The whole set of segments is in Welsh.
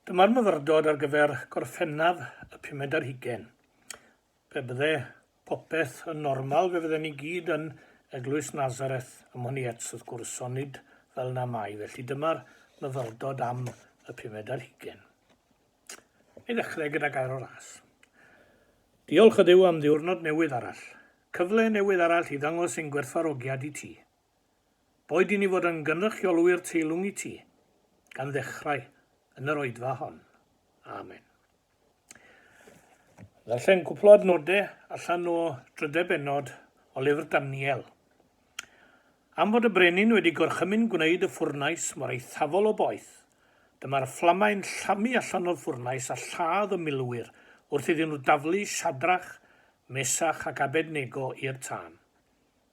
Dyma'r myfyrdod ar gyfer Gorffennaf y pumed ar hugain. Pe bydde popeth yn normal fe fydden ni gyd yn Eglwys Nazareth ym Mhoniets wrth gwrs, ond nid fel na mai, felly dyma'r myfyrdod am y pumed ar hugain. I ddechrau gyda gair o ras. Diolch ydyw am ddiwrnod newydd arall. Cyfle newydd arall i ddangos ein gwerthfawrogiad i ti. Boed i ni fod yn gynrychiolwyr teilwng i ti, gan ddechrau yn yr oedfa hon. Amen. Ddarllen cwpl o adnodau allan o drydau benod o lyfr Daniel. Am fod y brenin wedi gorchymyn gwneud y ffwrnais mor eithafol o boeth, dyma'r fflamau'n llamu allan o'r ffwrnais a lladd y milwyr wrth iddyn nhw daflu Siadrach, Mesach ac Abednego i'r tân.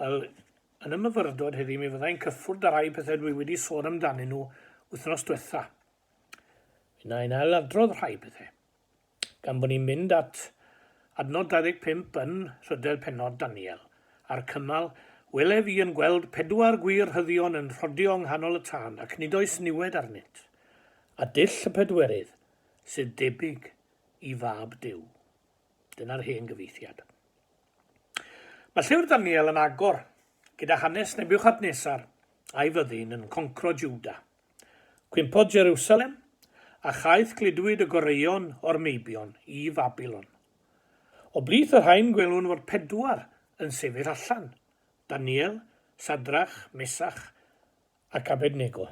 Wel, yn y myfyrdod heddi mi fyddai'n cyffwrdd â rhai pethau dwi wedi sôn amdanyn nhw wythnos diwetha. Yna yn ail adrodd rhai pethau. Gan bod ni'n mynd at adnod 25 yn rhydell penod Daniel, a'r cymal, welef i yn gweld pedwar gwir rhyddion yn rhodio yng nghanol y tân ac nid oes niwed arnynt, a dull y pedwerydd sydd debyg i fab Duw. Dyna'r hen gyfieithiad. Mae llyfr Daniel yn agor gyda hanes Nebiwchadnesar a'i fyddin yn concro Jwda. Cwympodd Jerusalem, a chaeth gludwyd y goreuon o'r meibion i Fabilon. O blith y rhain gwelwn fod pedwar yn sefyll allan, Daniel, Sadrach, Mesach ac Abednego.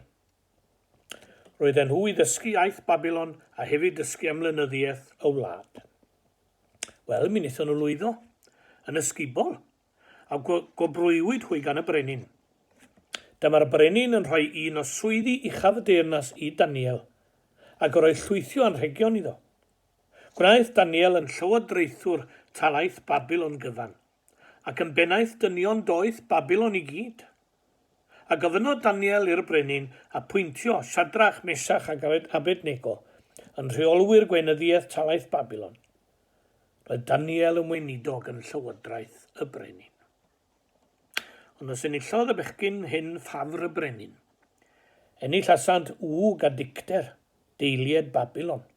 Roedden nhw i ddysgu iaith Babilon a hefyd dysgu am lenyddiaeth y wlad. Wel, mi wnaethon nhw lwyddo, yn ysgubol, a gwobrwywyd hwy gan y brenin. Dyma'r brenin yn rhoi un o swyddi uchaf y deyrnas i Daniel, ac yr oedd llwythio anrhegion iddo. Gwnaeth Daniel yn llywodraethwr talaith Babilon gyfan. ac yn bennaeth dynion doeth Babilon i gyd. A gofynnodd Daniel i'r brenin apwyntio Shadrach, Mesach ac Abednego yn rheolwyr gweinyddiaeth talaith Babilon. Roedd Daniel yn weinidog yn llywodraeth y brenin. Ond os enillodd y bechgyn hyn ffafr y brenin, enillasant wg a dicter deilied Babilon.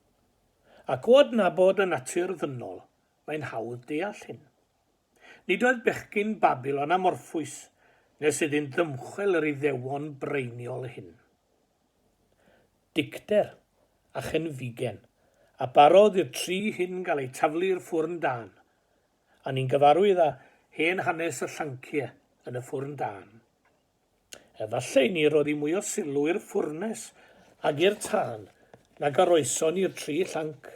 Ac o adnabod y natur ddynol Mae'n hawdd deall hyn. Nid oedd bechgyn Babilon amorffwys nes iddynt ddymchwel yr Iddewon braeniol hyn. Dicter, a chenfigen, a barodd i'r tri hyn gael eu taflu i'r ffwrn dân, a ni'n gyfarwydd â hen hanes y llancie yn y ffwrn dân. Efallai ni roddi mwy o sylw i'r ffwrnes ag i'r tân nag a roeson ni'r tri llanc.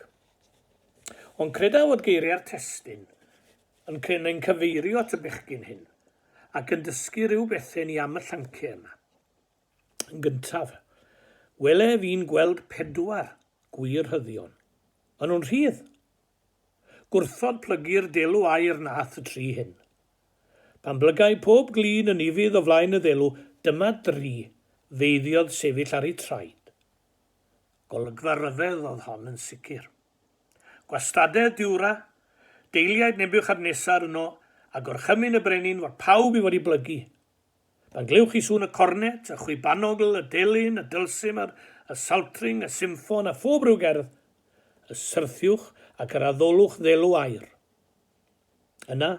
Ond creda fod geiriau'r testun yn cryn neu'n cyfeirio at y bechgyn hyn, ac yn dysgu rhyw bethe ni am y llanceu yma. Yn gyntaf, wele fi'n gweld pedwar gwir rhyddion. Maen nhw'n rhydd, Gwrthod plygu'r delw aer nath y tri hyn. Pan blygai pob glin yn ufudd o flaen y ddelw, dyma dri feiddiodd sefyll ar eu traed. Golygfa ryfedd oedd hon yn sicr. Gwastadedd Diwra, deiliaid Nebiwchadnesar yno, a gorchymyn y brenin fod pawb i fod i blygu, Pan glywch chi sŵn y cornet, y chwibanogl, y delyn, y dylsimer, y saltring, y symffon a phob ryw gerdd, y syrthiwch ac yr addolwch ddelw aer. Yna,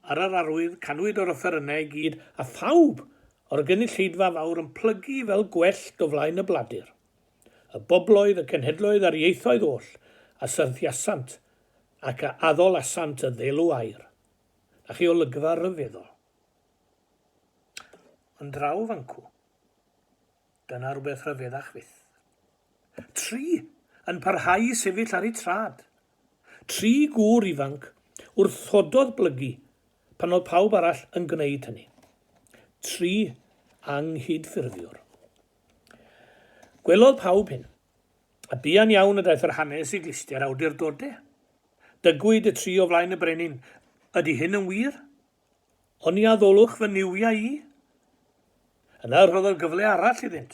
ar yr arwydd, canwyd yr offerynnau i gyd a phawb o'r gynulleidfa fawr yn plygu fel gwellt o flaen y bladur. Y bobloedd, y cenhedloedd a'r ieithoedd oll a syrthiasant ac a addolasant y ddelw aer. Na chi olygfa ryfeddol? Ond draw fancw. Dyna rhywbeth rhyfeddach fyth. Tri yn parhau i sefyll ar eu trad. Tri gŵr ifanc wrthododd blygu pan oedd pawb arall yn gwneud hynny. Tri anghydffurfiwr. Gwelodd pawb hyn, a buan iawn y daeth yr hanes i glistiau'r awdurdodau. Dygwyd y tri o flaen y brenin, ydy hyn yn wir? Oni addolwch fy niwiau i? Yna rhoddodd gyfle arall iddynt.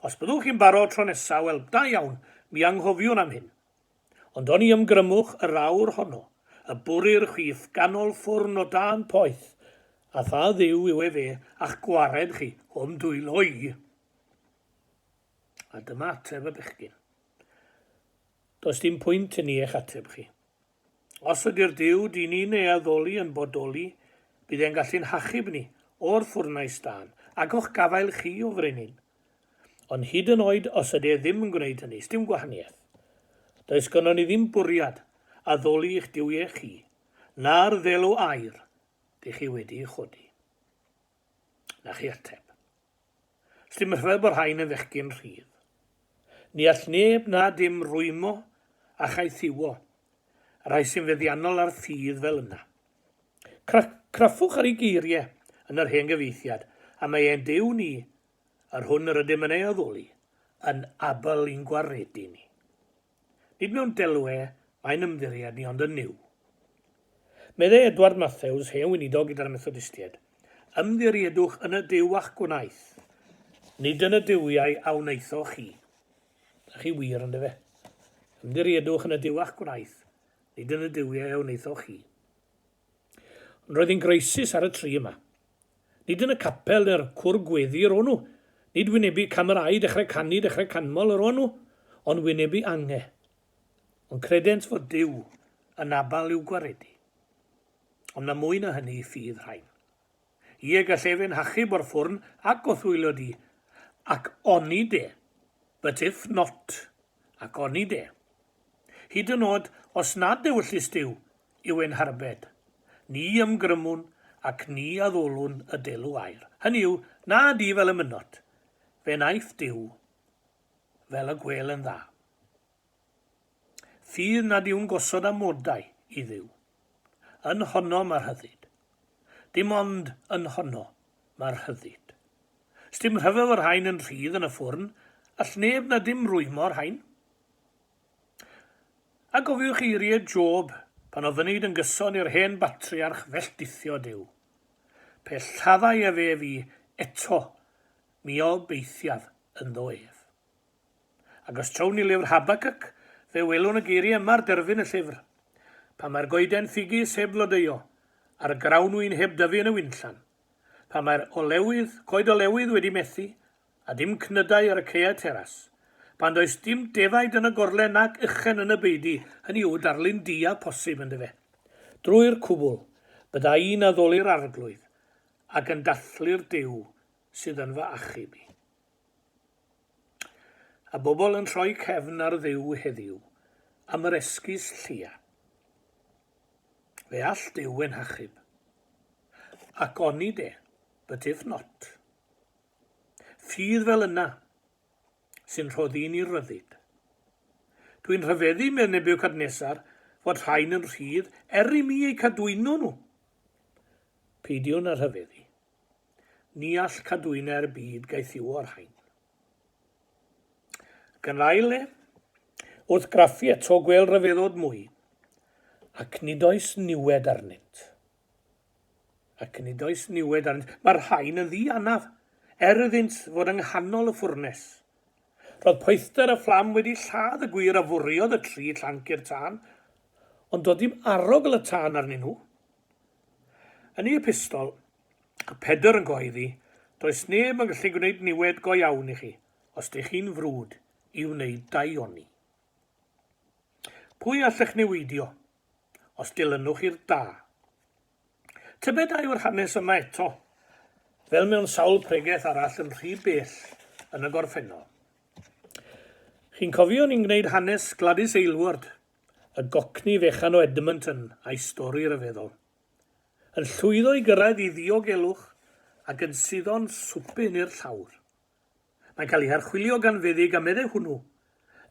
Os byddwch chi'n barod tro nesa, wel, da iawn, mi anghofiwn am hyn. Ond oni ymgrymwch yr awr honno, y bwri'r chwith ganol ffwrn o dan poeth, a pha Dduw yw efe a'ch gwared chi o'm dwylo i? A dyma ateb y bechgyn. Does dim pwynt i ni eich ateb chi. Os ydy'r Duw dŷn ni'n ei addoli yn bodoli, bydd e'n gallu'n hachub ni o'r ffwrnais dân, ac o'ch gafael chi o frenin. Ond hyd yn oed os ydy e ddim yn gwneud hynny, 'sdim gwahaniaeth. Does gynnon ni ddim bwriad addoli i'ch duwiau chi, na'r ddelw aur dych chi wedi'i chodi. Na chi ateb. Llym rhyw bo rhain yn fechgyn rhydd. Ni all neb na dim rwymo a chaethiwo y rhai sy'n feddiannol ar ffydd fel yna. Cra- craffwch ar ei geirie yn yr hen gyfieithiad, a mae e'n Duw ni, yr hwn yr ydym yn ei addoli, yn abl i'n gwaredu ni. Nid mewn delwe mae'n ymddiried ni ond yn Nuw. Meddai Edward Mathews, hen weinidog gyda'r Methodistiaid, Ymddiriedwch yn y Duw a'ch gwnaeth, nid yn y duwiau a wnaethoch chi. Da chi wir, ond efe. Ymddiriedwch yn y Duw a'ch gwnaeth, nid yn y duwiau a wnaethoch chi. Ond roedd hi'n groesus ar y tri yma. Nid yn y capel neu'r cwr gweddi yr o'n nhw. Nid wynebu camerâu dechrau canu dechrau canmol yr o'n nhw, ond wynebu ange. Ond credent fod Duw yn abal i'w gwaredu. Ond na mwy na hynny ffydd rhain. Ie, gall ef ein hachub o'r ffwrn ac o thwyllo di, ac oni de, but if not, Ac oni de. Hyd yn nod os nad ewyllys Duw yw ein harbed, ni ymgrymwn ac ni addolwn y delw aer, hynny yw, na di fel y mynot, fe wnaeth Duw fel y gwêl yn dda. Fydd nad yw'n gosod amodau i Dduw. Yn honno ma rhyddid. Dim ond yn honno ma rhyddid. Sdim rhyfel y rhain yn rhydd yn y ffwrn, all neb na dim rwymo rhain. A gofiwch eirie Job pan oedd ynid yn gyson i'r hen batriarch felltithio Duw. Pe lladdai ef ef i eto, mi obeithiaf ynddo ef. Ac os trown i lyfr Habacuc, fe welwn y geiriau yma ar derfyn y llyfr, Pan mae'r goeden ffigys heb flodeuo, a'r grawnwin heb dyfu yn y winllan, pan mae'r olewydd, coed olewydd wedi methu, a dim cnydau ar y caeau teras, pan does dim defaid yn y gorlen nac uchen yn y beudy, hynny yw, darlun diau posib, yndyfe? Drwy'r cwbl, bydda i'n addoli'r Arglwydd, ac yn dathlu'r Duw sydd yn fy achub i. A bobl yn rhoi cefn ar Dduw heddiw am yr esgus llia. Fe all Duw ein hachub. Ac oni de, but if not. Ffydd fel yna sy'n rhoddi ni ryddid. Dwi'n rhyfeddu, mewn Nebuchadnezzar, fod rhain yn rhydd er i mi eu cadwyno nhw. Peidiwn â rhyfeddu. Ni all cadwynau'r byd gaethiwo ar hain. Ac yn ail le, wrth graffu eto gwêl ryfeddod mwy, ac nid oes niwed arnynt. Ac nid oes niwed arnynt. Mae'r rhain yn ddi anaf, er iddynt fod yng nghanol y ffwrnes. Roedd poethder y fflam wedi lladd y gwir a fwriodd y tri llanc i'r tân, ond doedd dim arogl y tân arnyn nhw. Yn ei epistol, a Pedr yn gyhoeddi, Does neb yn gallu gwneud niwed go iawn i chi, os dych chi'n frwd i wneud dau oni. Pwy allech niweidio, os dilynwch i'r da? Tybed a yw'r hanes yma eto, fel mewn sawl pregeth arall yn rhy bell yn y gorffennol? Chi'n cofio ni'n gwneud hanes Gladys Aylward y gocni fechan o Edmonton a'i stori ryfeddol. Yn llwyddo i gyrraedd i ddiogelwch ac yn suddo'n swpyn i'r llawr. Mae'n cael ei harchwilio gan feddyg a meddai hwnnw,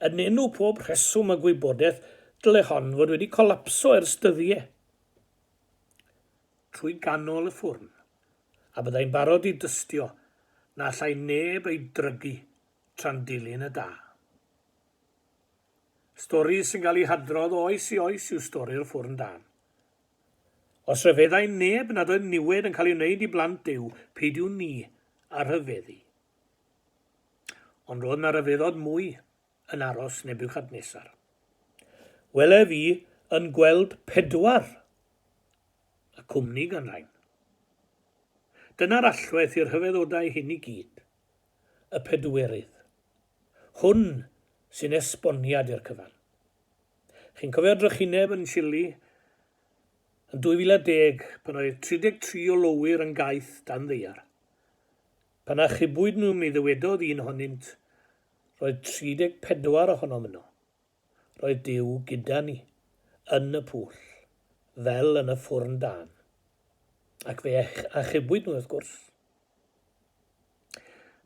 Yn enw pob rheswm a gwybodaeth dyle hon fod wedi colapso ers dyddie. Trwy ganol y ffwrn. A byddai'n barod i dystio na allai neb ei drygu tra'n dilyn y da. Stori sy'n cael ei hadrodd o oes i oes yw stori'r ffwrn dân. Os rhyfeddai neb nad oedd niwed yn cael ei wneud i blant Duw, peidiwn ni â rhyfeddu. Ond roedd na ryfeddod mwy yn aros Nebuchadnesar. Welef i yn gweld pedwar y cwmni gan rain. Dyna'r allwedd i'r rhyfeddodau hyn i gyd, y pedwerydd. Hwn sy'n esboniad i'r cyfan. Chi'n cofio drychineb yn Chile yn 2010 pan oedd 33 o lowyr yn gaeth dan ddaear? Pan achubwyd nhw mi ddywedodd un ohonynt, 'Roedd 34 ohonom yno. Roedd Duw gyda ni, yn y pwll, fel yn y ffwrn dân. Ac fe achubwyd nhw, wrth gwrs.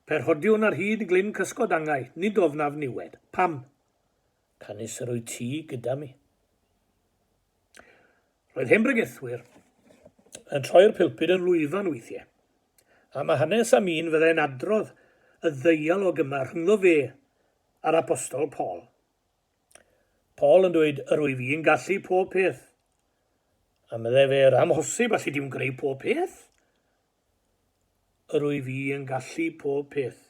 Pe rhodiwn ar hyd glyn cysgod angau, nid ofnaf niwed. Pam? Canys yr wyt ti gyda mi. Roedd hen bregethwyr yn troi'r pilpud yn lwyfan weithiau. A mae hanes am un fyddai'n adrodd y ddeialog yma rhyngddo fe a'r apostol Paul. Paul yn dweud, yr wyf i'n gallu pob peth. A meddai fe, yr amhosib, allu di'm greu pob peth? Yr wyf i yn gallu pob peth.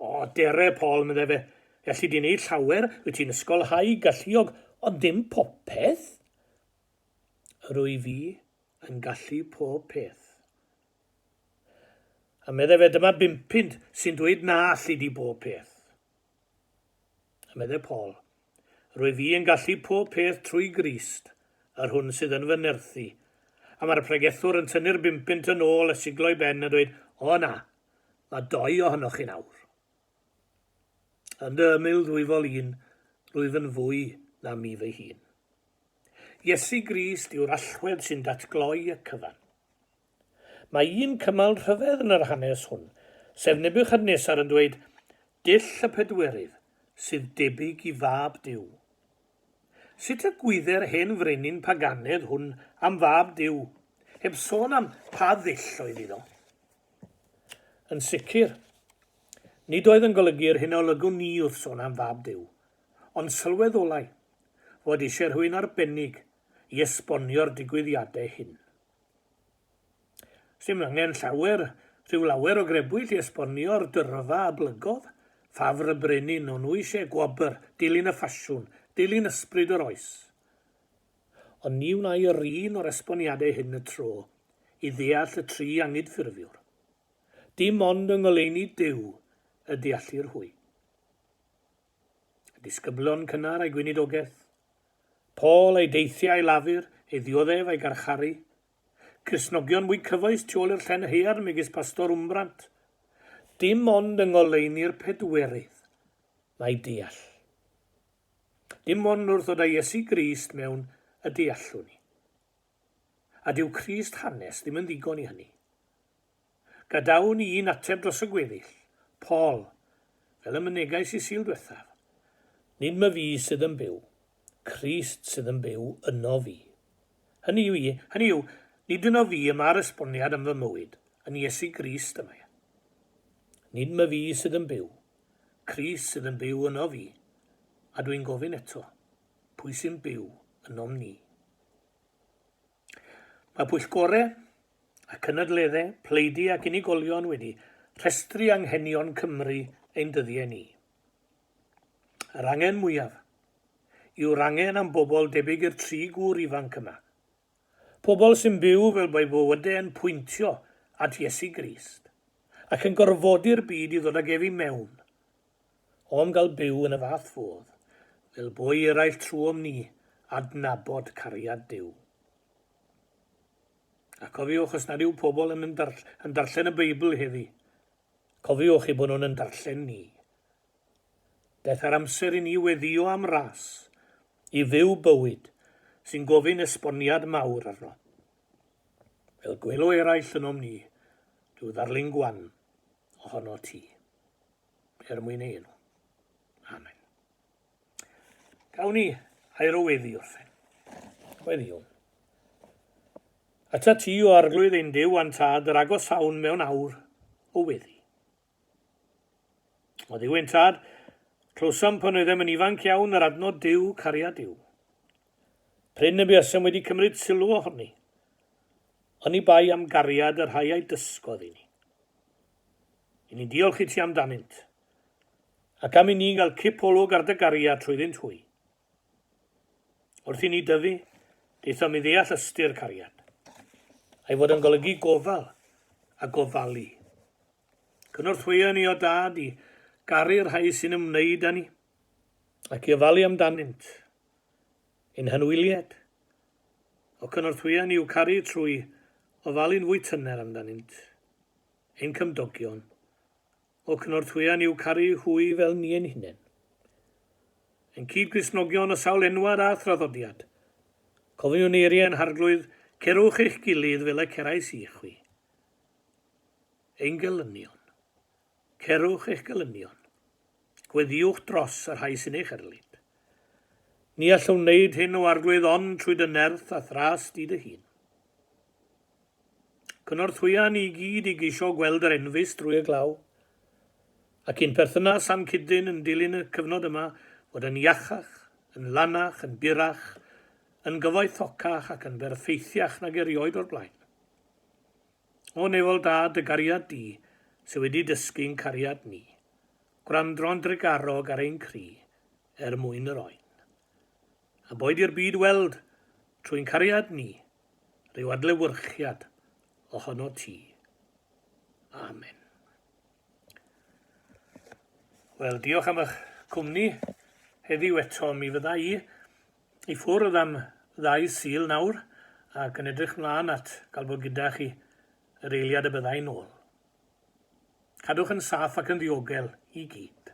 O, dere, Paul, meddai fe, Felly di'n ei llawer, wyt ti'n ysgolhau galluog, ond ddim popeth? Yr wyf i yn gallu pob peth. A meddai fe, dyma bum punt sy'n dweud na alli di bob peth. A meddai Paul, rwy fi yn gallu pob peth trwy Grist, yr hwn sydd yn fy nerthu. A mae'r pregethwr yn tynnu'r bum punt yn ôl a siglo'i ben a dweud, o na, mae doi ohonoch chi'n awr. Yn dy ymyl ddwyfol un, rwyf yn fwy na mi fy hun. Iesu Grist yw'r allwedd sy'n datgloi y cyfan. Mae un cymal rhyfedd yn yr hanes hwn, sef Nebiwchadnesar yn dweud, Dull y pedwerydd, sydd debyg i fab Duw. Sut y gwydde'r hen frenin paganedd hwn am fab Duw, heb sôn am pa ddull oedd iddo? Yn sicr, nid oedd yn golygu'r hyn a olygwn ni wrth sôn am fab Duw, ond sylweddolai fod eisiau rhywun arbennig i esbonio'r digwyddiadau hyn. Sdim angen llawer, rhyw lawer o grebwyll i esbonio'r dyrfa a blygodd, ffafr y brenin, o'n nhw eisiau gwobr, dilyn y ffasiwn, dilyn ysbryd yr oes. Ond ni wnai yr un o'r esboniadau hyn y tro, i ddeall y tri angydffurfiwr. Dim ond yng ngoleuni Duw y deallir hwy. a disgyblion cynnar a'i gweinidogaeth, Paul a'i deithiau i Lafur, ei ddioddef a'i garcharu, Cristnogion mwy cyfoes tu ôl i'r llen haearn megis Pastor Wmbrant. Dim ond yng ngoleuni'r Pedwerydd mae deall. Dim ond wrth ddod â Iesu Grist mewn y deallwn ni. A dyw crys hanes ddim yn ddigon i hynny. Gadawn i un ateb dros y gweddill, Paul, fel y mynegais i Sul dwethaf. Nid ma fi sydd yn byw, Crist sydd yn byw yno fi. Hynny yw, hynny yw, nid yno fi y mae'r esboniad am fy mywyd, yn Iesu Grist y mae e. Nid ma fi sydd yn byw, Crist sydd yn byw yno fi. A dwi'n gofyn eto. pwy sy'n byw ynom ni. Mae pwyllgorau a cynadleddau pleidu ac unigolion wedi rhestru anghenion Cymru ein dyddiau ni. Yr angen mwyaf yw'r angen am bobl debyg i'r tri gŵr ifanc yma. Pobl sy'n byw fel mae bywydau yn pwyntio at Iesu Grist ac yn gorfodi'r byd i ddod ag ef i mewn O'm gael byw yn y fath fodd, fel boi eraill trwom ni adnabod cariad Duw. A cofiwch, os nad yw pobl yn yn darllen y Beibl heddi, cofiwch eu bod nhw'n yn darllen ni. Beth ar amser i ni weddio am ras, i fyw bywyd sy'n gofyn esboniad mawr arno. Fel gwelo eraill ynom ni, rhyw ddarlun gwan ohono ti. er mwyn ei enw. Amen. Gawn ni air o weddi orffen. Weddiwn. Ata ti o arglwydd ein Dyw a'n Tad yr agosawn mewn awr o weddi. O Dduw ein Tad, clywsom pan oeddem yn ifanc iawn yr adnod Dyw, cariad Dyw. Pryn y buasem wedi cymryd sylw ohoni, ond ni bai am gariad y rhai a'i dysgodd i ni. I ni'n diolch i ti amdanynt, ac am i ni gael cip olwg ar dy gariad trwyddynt hwy. Wrth i ni dyfu, daethom i ddeall ystyr cariad, a'i fod yn golygu gofal a gofalu. Cynorthwyo ni, o Dad, i garu'r rhai sy'n ymwneud â ni, ac i ofalu amdanynt. Ein hanwyliad, o cynorthwyo ni i'w caru trwy ofalu'n fwy tyner amdanynt. Ein cymdogion o Cynorthwyon yw Caru Hwy fel ni ein hunain. Ein cyd-Gristnogion o sawl enwad a thraddodiad. Cofiwn eiriau yn Harglwydd, Cerwch eich gilydd fel y cerais i chwi. Ein gelynion. Cerwch eich gelynion. Gweddiwch dros y rhai sy'n eich erlid. Ni allwn wneud hyn o Arglwydd ond trwy dy nerth a thras di dy hun. Cynorthwya ni gyd i geisio gweld yr enfys drwy y glaw, ac i'n perthynas â'n cyd-dyn yn dilyn y cyfnod yma fod yn iachach, yn lanach, yn gyrrach, yn gyfoethocach ac yn berffeithiach nag erioed o'r blaen. O Nefol Da, dy gariad di, sy wedi dysgu'n cariad ni, gwrandro'n drugarog ar ein cri er mwyn yr oen. A boed i'r byd weld, trwy'n cariad ni, rhyw adlewyrchiad ohono ti. Amen. Wel, diolch am eich cwmni heddiw eto. Mi fydda i i ffwrdd am ddau syl nawr ac yn edrych mlaen at gael bod gyda chi yr eiliad y bydda i'n ôl. Cadwch yn saff ac yn ddiogel i gyd.